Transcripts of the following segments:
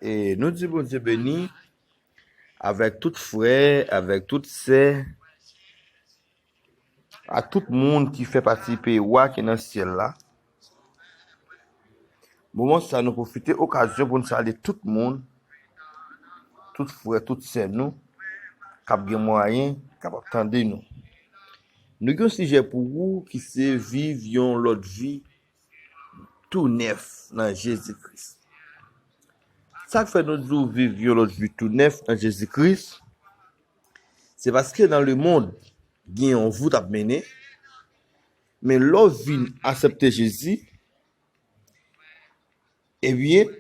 E nou di Bondye beni avèk tout frè, avèk tout sè, ak tout moun ki fè pati peyi Wa ki nan syèl la. Moman sa nou pwofite okazyon pou nou salye tout moun, tout frè, tout sè nou k ap gen mwayen, k ap ap tande nou. Nou gen yon sijè pou ou ki se viv yon lòt vi tou nèf nan Jezi Kris. Sa k fè nou di w viv yon lòt vi tou nèf nan Jezi Kris, se paske nan lemonn gen yon vout ap mennen, men lè w vin asepte Jezi, Ebyen,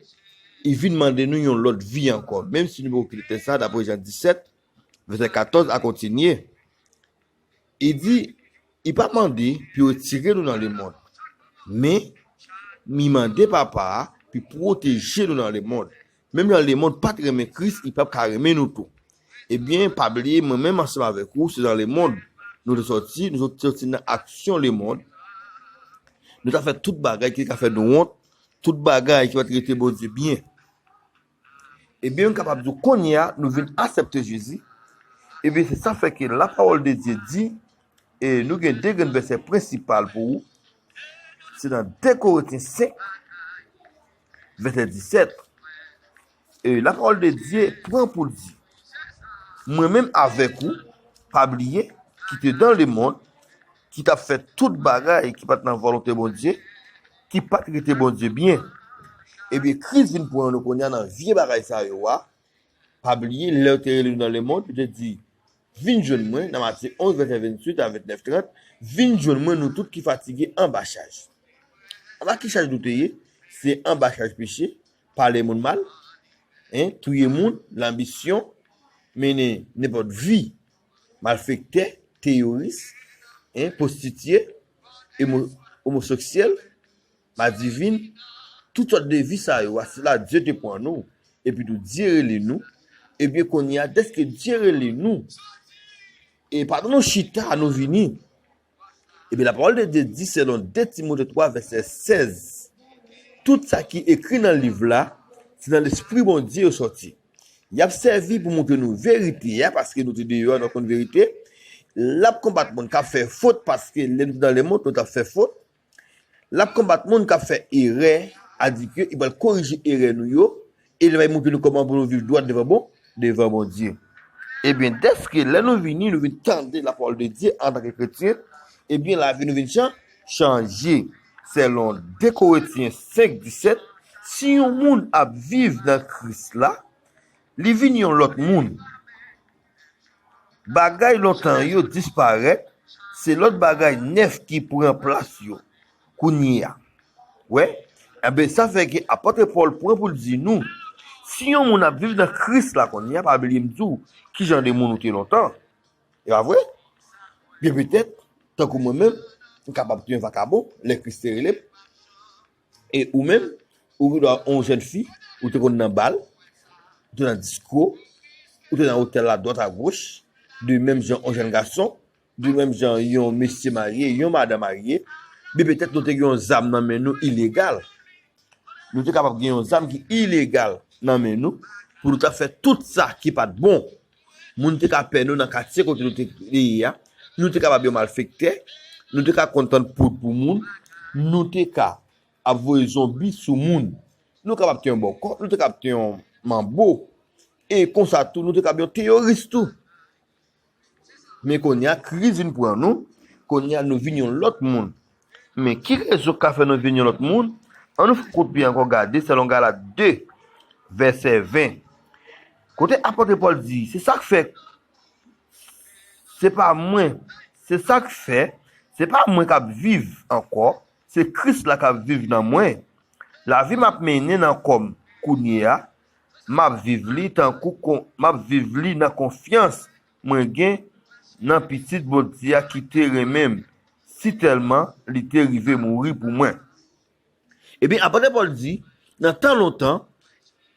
li vin mande nou yon lòt vi ankò, menm si nou poko kite tè sa, dapre Jan 17, vèsè 14 a kontinye, li di, li pa mande pou yo retire nou nan lemond, men, li mande Papa a pou li pwoteje nou nan lemond. Menm jan lemond pa t renmen Kris, li pap ka renmen nou tou. Ebyen, pa bliye, mwen menm ansanm avèk ou se nan lemond nou te sòti, nou te sòti nan aksyon lemond, nou t ap fè tout bagay ki te ka fè nou wont, Tout bagay ki pa t rete Bondye byen. Ebyen m kapab di w kounye a nou vin asèpte Jezi, ebyen se sa fè ke lapawòldedye di, e nou gen de grenn vèsè prensipal pou ou, se nan 2 Korentyen 5 vèsè 17, E lapawòl de Dye pran pou l di, Mwen menm avèk ou, pa bliye, ki te dan lemonn, ki t ap fè tout bagay ki pa t nan volonte Bondye, ki pa t rete Bondye byen. Ebyen, Kris vin pran nou kounye a nan vye bagay sa yo a. Pa bliye, lè yo te rele nou dan lemonn, yo te di, Vin jwenn mwen, nan Matye 11, vèsè 28 a 29, 30, Vin jwenn mwen nou tout ki fatige anba chaj. Anba ki chaj nou te ye? Se anba chaj peche, pale moun mal, hein, touye moun, lanbisyon, mennen nenpòt vi, malfektè, teyoris, hein, pwostitiye, emo, omosoksyèl, madivin, tout sòt de vi sa yo a, se la Dye te pran nou, epi tou Dye rele nou, ebyen kounye a dèske Dye rele nou, e pandan nou chita nou vini. Epi lapawòl de Dye di selon 2 Timote 3 vèsè 16, Tout sa ki ekri nan liv la, se nan Lespri Bondye yo sòti. Y ap sèvi pou moutre nou verite a, paske nou te deyò a nou konn verite, l ap konbat moun k ap fè fot, paske lè nou te nan lemonn nou t ap fè fot, L ap konbat moun k ap fè erè adikye, e pou al korije erè nou yo, e li bay montre nou kòman pou nou viv dwat devan bon, devan Bondye. Ebyen, dèske lè nou vini, nou vin tande lapawòl de Dye antanke kretyen, ebyen lavi nou vin chan, chanje. Selon 2 Korentyen 5, 17, si yon moun ap viv nan Kris la, li vin yon lòt moun. Bagay lontan yo disparèt, se lòt bagay nèf ki pran plas yo kounye a. Wè, enben sa fè ke apòtre Pòl pran pou l di nou, si yon moun ap viv nan Kris la kounye a, pa bliye m di w ki jan de moun ou te lontan. E pa vre? Byen petèt, tankou mwen menm, m kapab te yon vakabon lè Kris te rele m. E ou menm, ou ki dwa on jèn fi, ou te konn nan bal, ou te nan disko, ou te nan otèl a dwat a goch, de menm jan on jèn gason, de menm jan yon mesye marye, yon madan marye, men petèt nou te gen yon zam nan men nou ilegal, nou te kapab gen yon zam ki ilegal nan men nou, pou nou ta fè tout sa ki pat bon, Moun te ka pè nou nan katye kote nou te ye a, nou te kapab yon malfektè, nou te ka konn tann poud pou moun, nou te ka ap voye zonbi sou moun, nou kapab te yon bòkò, nou te kapab te yon manbo, e konsa tou nou te kapab yon teyoris tou. Men kounye a kriz vin pran nou, kounye a nou vin yon lòt moun. Men, ki rezon k ka fè nou vin yon lòt moun? Annou fè kout pye ankò gade selon Galat 2, vèsè 20, kote apot Pòl di, Se sa k fè, se pa mwen, se sa k fè, se pa mwen k ap viv ankò, se Kris la k ap viv nan mwen. Lavi m ap mennen nan kò m kounye a, m ap viv li tankou, m ap viv li nan konfyans Mwen gen Nan pitit Bondye a ki te renmen m si tèlman li te rive mouri pou mwen. Ebyen, apot Pòl di, nan tan lontan,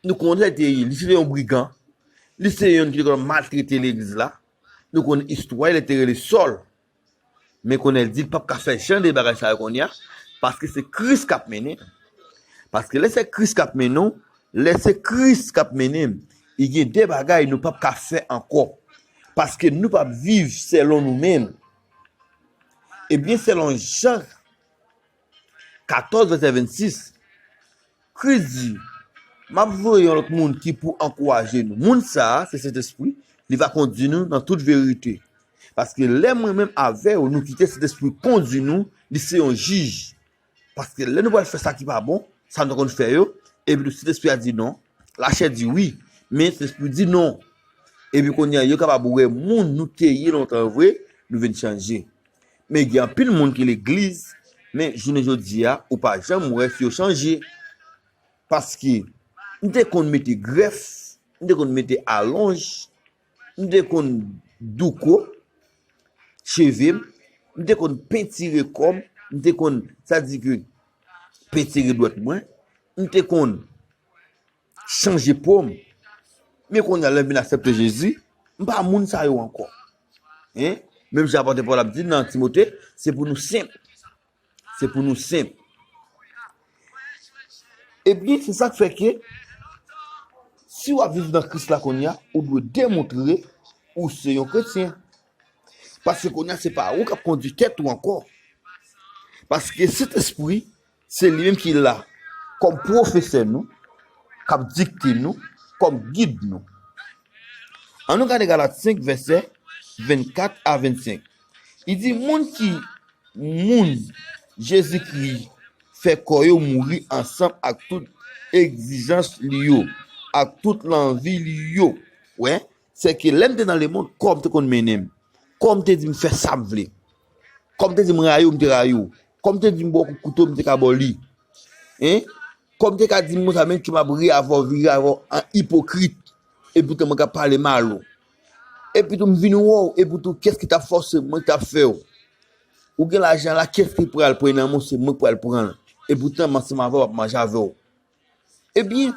nou konn sa li te ye, li se te yon brigan, li se te yonn ki te konn maltrete legliz la, nou konn istwa li, li te rele Sòl. Men Kònèl di l pap ka fè jan de bagay sa yo kounye a, paske se Kris k ap mennen l. Paske lè se Kris k ap mennen w, lè se Kris k ap mennen m, gen de bagay nou pap ka fè ankò. Paske nou pap viv selon nou menm, ebyen selon jan 14 vèsè 26, Kris di, M ap voye yon lòt moun ki pou ankouraje nou. Moun sa a, se Sentespri, li va kondi nou nan tout verite. Paske lè mwen menm avè ou nou kite Sentespri kondi nou, li se yon jij. Paske lè nou pral fè sa ki pa bon, sa nou konn fè yo, epitou Sentespri a di non, lachè di wi, men Sentespri di non. Epi kounye a yo kapab wè moun nou te ye lontan vre, nou vin chanje. Men gen anpil moun ki legliz men jounen jodia ou pa janm wè fi yo chanje paske nou te konn mete grèf, nou te konn mete alonj, nou te konn douko cheve m, nou te konn pentire kò m, nou te konn sa di ke pentire dwèt mwen, nou te konn chanje pom men konnya lèm vin aksepte jezi m pa moun sa yo ankò hein menm jan apòte pòl ap di nan timote se pou nou senp se pou nou senp epi se sak fè ke si wap viv nan kris la konnya ou dwe demontre ou se yon kretyen paske konnya se pa ou kap kondi tèt ou ankò paske sentespri Se li menm ki la kòm pwofesè nou, k ap dikte nou, kòm gid nou. Annou gade Galat 5, vèsè 24 a 25. Li di, Moun ki moun Jezikri fè kò yo mouri ansanm ak tout egzijans li yo, ak tout lanvi li yo. Wè? Se ke lè m te nan lemonn, kò m te konn mennen m. Kò m te di m fè sa m vle. Kò m te di m rayi w, m te rayi w. Kò m te di m ba w kout kouto, m te ka ba w li. Hein? Kò m te ka di m konsa menm ke m ap ri avè w, vire avè w an ipokrit. Epoutan mwen ka pale mal ou. Epitou m vin wè w, epoutou kiyès ki t ap fòse w? Mwen ki t ap fè w. Ou gen lajan la, kiyès ki pral pran nan men w? Se mwen ki pral pran l. Epoutan m ansanm avè w, m ap manje avè w. Ebyen,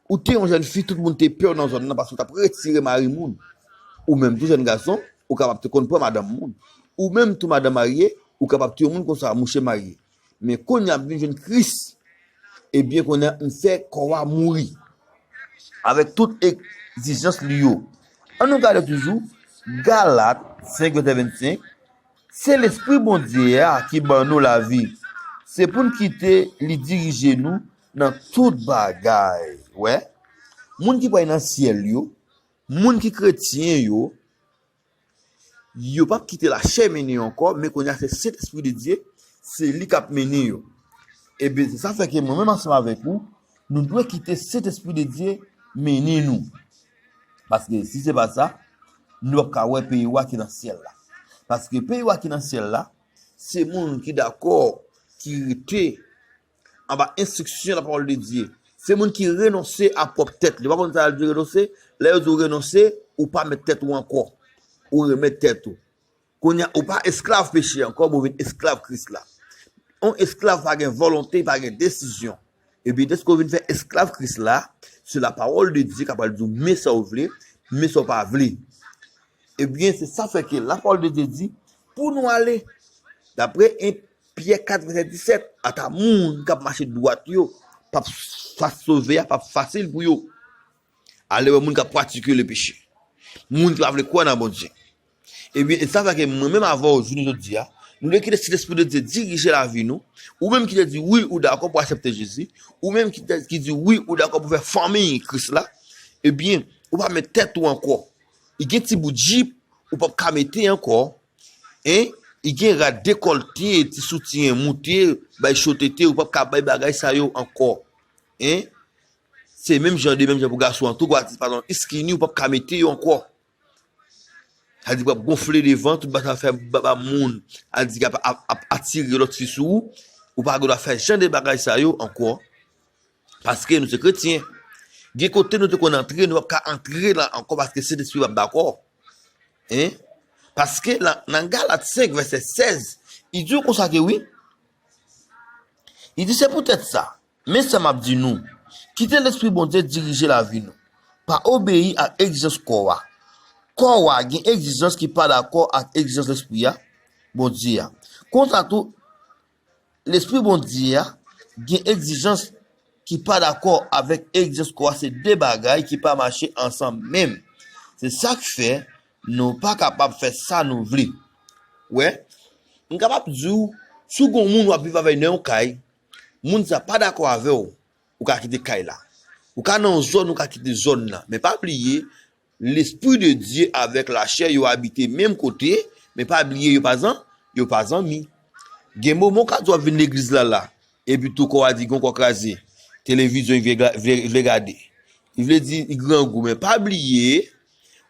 ou te yon jèn fi tout moun te pè w nan zòn nan paske w t ap retire mari moun. Ou menm tou jèn gason, ou kapab te konn pran madanm moun. Ou menm tou madan marye, ou kapab te yon moun konsa, mouche marye. Men kounye a m vin jwenn Kris, ebyen kounye a m fè kò a mouri avèk tout egzijans li yo. Annou gade toujou Galat 5 vèsè 25, Se Lespri Bondye a ki ban nou lavi. Se pou n kite li dirije nou nan tout bagay. Ou wè? Moun ki pral nan syèl yo, moun ki kretyen yo, yo pap kite lachè mennen yo ankò, men kounye a se Sentespri de Dye, se li k ap mennen yo. Eben, se sa fè ke mwen menm ansanm avèk ou, nou dwe kite Sentespri de Dye mennen nou. Paske si se pa sa, nou pap ka wè peyi wa ki nan syèl la. Paske peyi wa ki nan syèl la, se moun ki dakò, ki rete anba enstriksyon lapawòl de Dye. Se moun ki renonse a pwòp tèt li. Ou pa konn sa yo di renonse? Lè yo di w renonse, ou pa mèt tèt ou ankò. Ou remèt tèt ou. Kounye a, ou pa esklav peche ankò, men ou vin esklav Kris la. Yon esklav pa gen volonte, li pa gen desizyon. Epi dèske ou vin fè esklav Kris la, se lapawòl de Dye k ap pral di ou men sa ou vle, men sa ou pa vle. Ebyen, se sa fè ke lapawòl de Dye di, pou nou ale, dapre 1 Pyè 4 vèsè 17, ata moun k ap mache dwat yo, p ap fas sove a, p ap fasil pou yo. Alewè moun k ap pratike lepeche, moun ki pa vle kwè nan Bondye. Ebyen, e sa fè ke mwen menm avè w jounen jodi a, nou dwe kite Sentespri de Dye dirije lavi nou, ou menm ki te di wi ou dakò pou asepte Jezi, ou menm ki te ki di wi ou dakò pou fè fanmiy Kris la, ebyen, ou pa mèt tèt ou ankò. E gen ti bout jip ou pap ka mete ankò, e e gen rad dekòlte, ti soutyen moute, bay cho tete, ou pap ka bay bagay sa yo ankò. E se menm jan de menm jan pou gason an tou, gwa ti patalon iskini ou pap ka mete yo ankò. Sa di wap gonfle devan, tout bagay sa fè ba moun andikap ap atire lòt fi sou ou, ou pa gen dwa fè jan de bagay sa yo ankò, paske nou se kretyen, gen kote nou te konn antre nou pap ka antre la ankò paske Sentespri pap dakò, paske nan Galat 5 vèsè 16 li di nou konsa ke wi, li di se poutèt sa, Men sa m ap di nou, Kite lespri Bondye dirije lavi nou. Pa obeyi ak egzijans kò a. Kò a gen egzijans ki pa dakò ak egzijans lespri a, Bondye a. Konsa tou, lespri Bondye a gen egzijans ki pa dakò avèk egzijans kò a, se de bagay ki pa mache ansanm menm. Se sa k fè nou pa kapab fè sa nou vle. Ou wè? M kapab di w, si w gen yon moun w ap viv avè l nan yon kay, Moun sa pa dakò avèw ou ka kite kay la ou ka nan yon zòn ou ka kite zòn nan men pa bliye lespri de Dye avèk lachè yo abite menm kote men pa bliye yo pa zan yo pa zanmi gen moman ou ka di wap vin legliz la la epi tou kòw a di gon kò kraze televizyon vle gade li vle di li grangou men pa bliye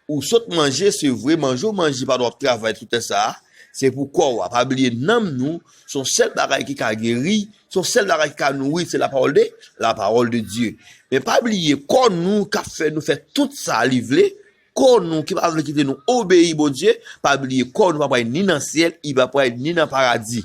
Ou sot manje sevre manje ou manje pandan wap travay sou tè sa se pou kò a pa bliye nanm nou son sèl bagay ki ka geri son sèl bagay ki ka nouri se la pawòl de la pawòl de Dye men pa bliye kò nou kap fè nou fè tout sa li vle kò nou ki pa vle kite nou obeyi Bondye pa bliye kò nou pa pral ni nan syèl li pa pral ni nan paradi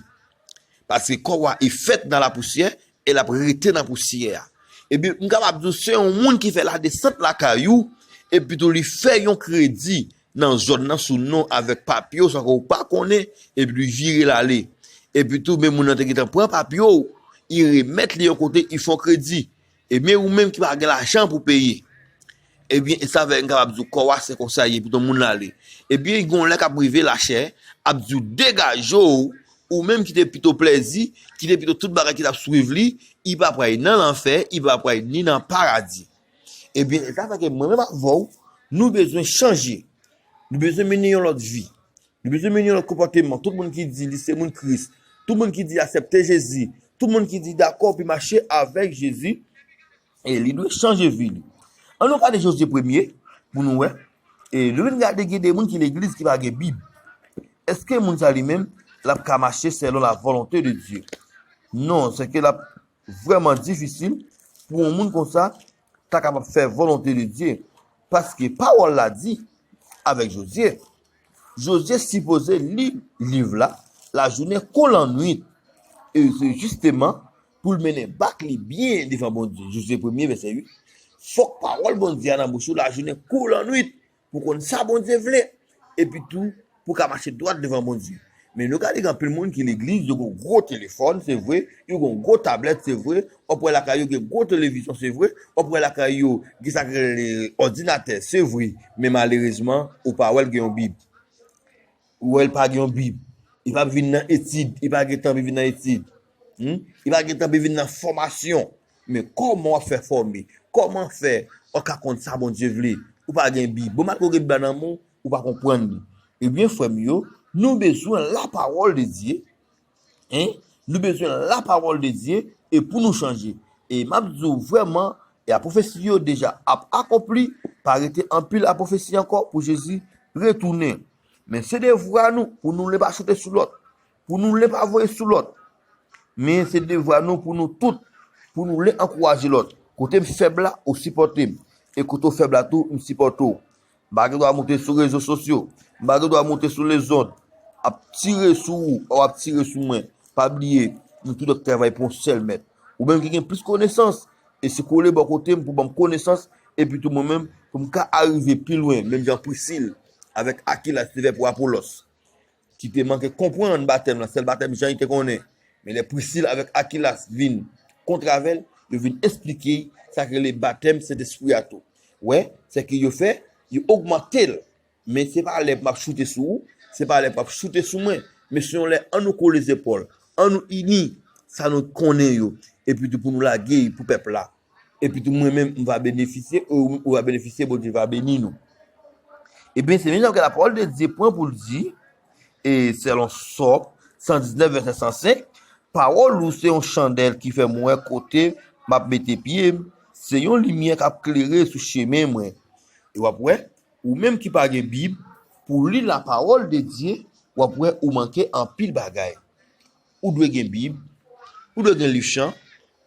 paske kò a e fèt nan la pousyè E l ap rete nan pousyè a. Epi, m kapab di w, se yon moun ki fè ladesant lakay ou, epitou li fè yon kredi nan zòn nan sou non avèk papye w san ke w pa konnen, epi li vire l ale. Epitou, men moun nan te gentan pran papye w, li remèt li yon kote, li fè yon kredi. Ebyen, ou menm ki pa gen lajan pou w peye. Ebyen, e sa fè n kapab di w kò a se konsa l ye epito moun lan ale. Ebyen, gen yon lè k ap rive lachè ap di w degaje w, ou menm ki te pito plezi, ki te pito tout bagay ki t ap swiv li, li pa pral nan lanfè, li pa pral ni nan paradi. Ebyen, e sa fè ke mwen menm avè w, nou bezwen chanje, nou bezwen mennen yon lòt vi, nou bezwen mennen yon lòt konpòteman. Tout moun ki di li se moun Kris, tout moun ki di asepte Jezi, tout moun ki di dakò pou mache avèk Jezi, E li dwe chanje vi li. An nou gade Jozye premye pou nou wè. E nou vin gade gen de moun ki legliz ki pa gen bib. Eske moun sa li menm lap ka mache selon la volonte de Dye? Non, se ke lap vreman difisil pou yon moun konsa ta kapab fè volonte de Dye. Paske pawol la di avek Jozye. Jozye sipoze li liv la lajounen kou lannwit. E se jisteman pou l mennen bak li byen devan Bondye, Jozye premye, vèsè 8, fòk pawòl Bondye a nan bouch ou lajounen kou lannwit pou w konn sa Bondye vle, epi tou pou w ka mache dwat devan Bondye. Men nou gade gen anpil moun ki legliz yo gen gwo telefòn, se vre, yo gen gwo tablèt, se vre, w ap wè lakay yo gen gwo televizyon, se vre, w ap wè lakay yo gen sa ki rele òdinatè, se vre, men malerezman ou pa wè l gen yon Bib. Ou wè l pa gen yon bib. Li pa vin nan etid. Li pa gen tan pou l vin nan etid. Li pa gen tan pou l vin nan fòmasyon. Men kòman w ap fè fòme? Kòman fè ou ka konn sa Bondye vle? Ou pa gen bib. Bon malgre ou gen bib la nan men w, ou pa konprann li. Ebyen frè m yo, nou bezwen lapawòl de Dye. Hein nou bezwen la parole de Dieu e pou nou chanje e map di w vrèman e a profesi yo deja ap akonpli pa rete anpil a profesi ankò pou Jezi retounen men se devwa nou pou nou len pa choute sou lòt pou nou len pa voye sou lòt men se devwa nou pou nou tout pou nou len ankouraje lòt kote m fèb la ou sipòte m e kote w fèb la tou m sipòte w M pa gen dwa moute sou rezo sosyo. M pa gen dwa moute sou lezond. Ap tire sou ou, ou ap tire sou mwen. Pa bliye, nou tout ap travay pou yon sèl mèt. Ou menm ki gen plis konesans, e se kole bò kote m pou ban m konesans, epitou mwen menm pou m ka arive pi lwen, menm jan Prisil avèk Akilas te fè pou Apolòs. ki te manke konprann batèm lan, sèl batèm Jan yo te konnen, men lè Prisil avèk Akilas vin kontrave l, yo vin esplike y sa ki rele batèm Sentespri a tou. Wè, se ke yo fè, yo ogmante l, men se pa lè m ap choute sou ou, se pa lè m ap choute sou mwen, men se yon lè an nou kole zepòl, an nou ini sa nou konnen yo, epitou pou nou lage y pou pèp la. Epitou mwen menm m va benefisye, e ou menm ou va benefisye, Bondye va beni nou. Ebyen, se menm jan ke lapawòl de Dye pran pou l di, e selon Sòm 119 vèsè 105, Pawòl ou se yon chandèl ki fè mwen wè kote m ap mete pye m, se yon limyè k ap klere sou chemen mwen. E w ap wè, ou menm ki pa gen Bib pou w li lapawòl de Dye, w ap wè ou manke anpil bagay. ou dwe gen bib, ou dwe gen liv chan,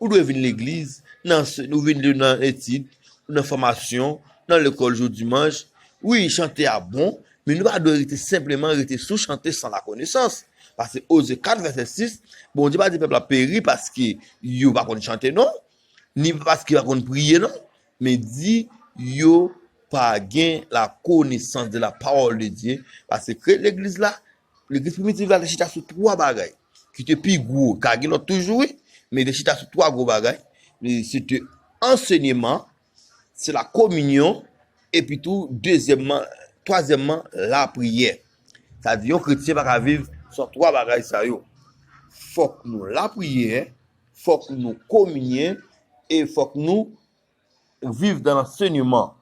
ou dwe vin legliz, nan answen, ou vin nan etid, ou nan fòmasyon, nan lekòl jou dimanch, wi chante a bon, men nou pa dwe rete senpleman rete sou chante san lakonesans, pase Oze 4 vèsè 6, Bondye pa di pèp la peri paske yo pa konn chante non, ni paske yo pa konn priye non, men di yo pa gen lakonesans de la pawòl de Dye, pase kreye legliz la, Legliz primitiv la te chita sou 3 bagay ki te pi gwo, ka gen lòt toujou wi, men li te chita sou 3 gwo bagay, se te ansenyeman, se la kominyon, epi tou dezyèmman, twazyèmman, la priyè. Sa di yon kretyen pa ka viv san 3 bagay sa yo. Fòk nou lapriyè, fòk nou kominyen, e fòk nou Ou viv dan lansenyeman.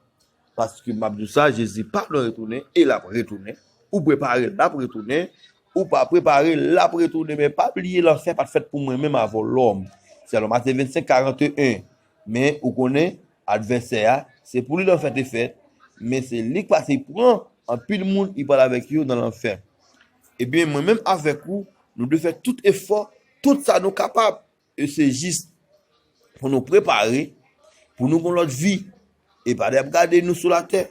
Paske map di w sa, Jezi pa lwen retounen e lap retounen. Ou prepare, lap retounen. Ou pa prepare, lap retounen. Men pa bliye lanfè pat fèt pou mwen menm avè w lòm. Selon Matye 25, 41. Men ou konnen, advèsè a, se pou li lanfè te fèt, men se li k pase pran anpil moun li pral avèk yo nan lanfè. Ebyen mwen menm avèk ou, nou dwe fè tout efò, tout sa nou kapab. E se jis pou nou prepare pou nou gon lòt vi. E pa de ap gade nou sou latè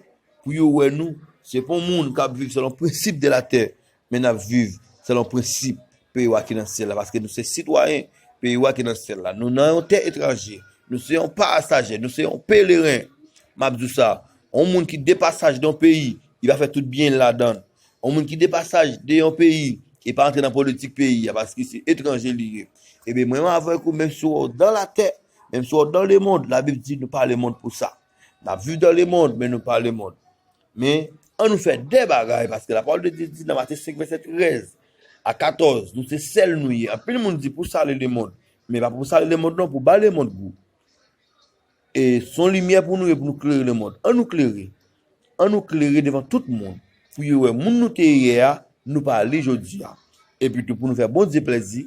pou yo wè nou se pa yon moun k ap viv selon prensip de latè men n ap viv selon prensip peyi wa ki nan syèl la paske nou se sitwayen peyi wa ki nan syèl la. Nou nan yon tè etranje, nou se yon pasajè, nou se yon peleren. M ap di w sa, yon moun ki depasaj nan yon peyi, li pa fè tout byen l ladan l. Yon moun ki depasaj de yon peyi e pa antre nan politik peyi a paske se etranje li ye. Ebyen mwen avèk ou menm si wè w dan latè, menm si wè w dan lemond, labib di nou pa lemond pou sa. N ap viv dan lemond men nou pa lemond. Men an nou fè de bagay paske lapawòl de Dye di nan Matye 5 vèsè 13 a 14 nou se sèl nou ye. Anpil moun di pou sale lemond men pa pou sale lemond non pou ba lemond gou. E son limyè pou nou ye pou nou klere le mond. An nou klere. An nou klere devan tout moun. Pou yo wè moun nou te ye yè a, nou pa li jodi a. Epitou pou nou fè Bondye plèzi.